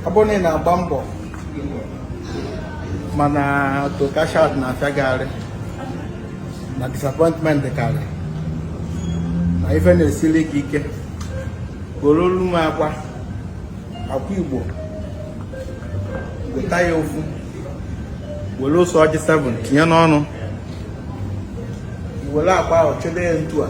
ọ bụrụ na ị na-agba mbọ mana to cash out na-afịa gị arụ na disappointment karị na ife na-esiri gị ike goro olu m akwa akwa igbo weta ya ofu were ose ọjị 7 tinye n'ọnụ were akwa ahụ jide ya etu a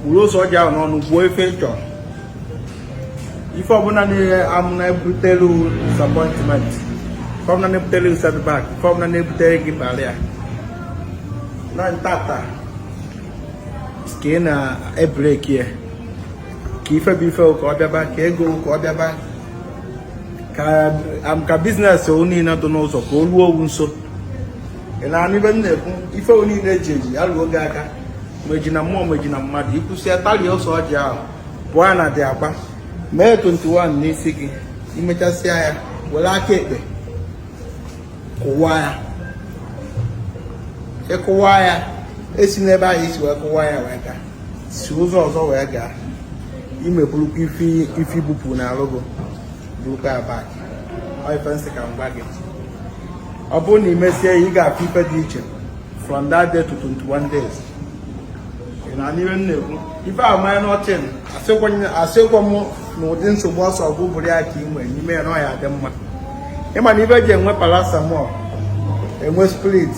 were ose ọjị ahụ n'ọnụ kwuo ife ị chọrọ ife ọbụla niile amụ na-ebutere disappointment ife ọbụla na-ebutere setback ife ọbụla na-ebutere gị barrier na taata ka ị na-ebreki ya ka ife bụ ife ka ọ bịaba ka ego ka ọ bịaba ka business o niile dị n'ụzọ ka o ruo owu nso ị na-anụ ife m na-ekwu ife o niile eji eji ya ruo gị aka ma eji na mmụọ ma eji na mmadụ i kwusịa talie ose ọjị ahụ bụọ ya na the akwa mee 21 n'isi gị i mechasịa ya were aka ekpe kụwa ya ị kụwa ya esina ebe ahụ i si wee kụwa ya wee gaa si ụzọ ọzọ wee gaa imepụrụkwa ife bupụ na alụgo bụrụkwa ya back ife m sị ka m gwa gị ọ bụrụ na ị mesie ya ị ga-afụ ife dị iche from that day to 21 days na-anụ ihe m na-ekwu ife a manya n'ọchịn asịkwa m na ụdị nsogbu ọsọ ọgwụ bụrụ ya ka ị nwere n'ime ya na ọ ya-adị mma ị ma na ife e ji enwe paracetamol enwe spirit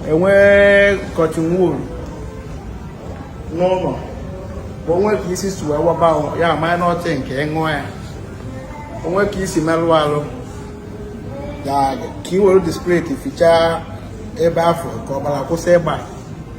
enwe cotton wool n'ụlọ bụ o nwee ka isi si wee waba ya manya n'ọchịn nke ị ṅụọ ya o nwee ka i si merụ arụ ka ị were the spirit fichaa ebe afụ ka ọbara kwụsị ịgba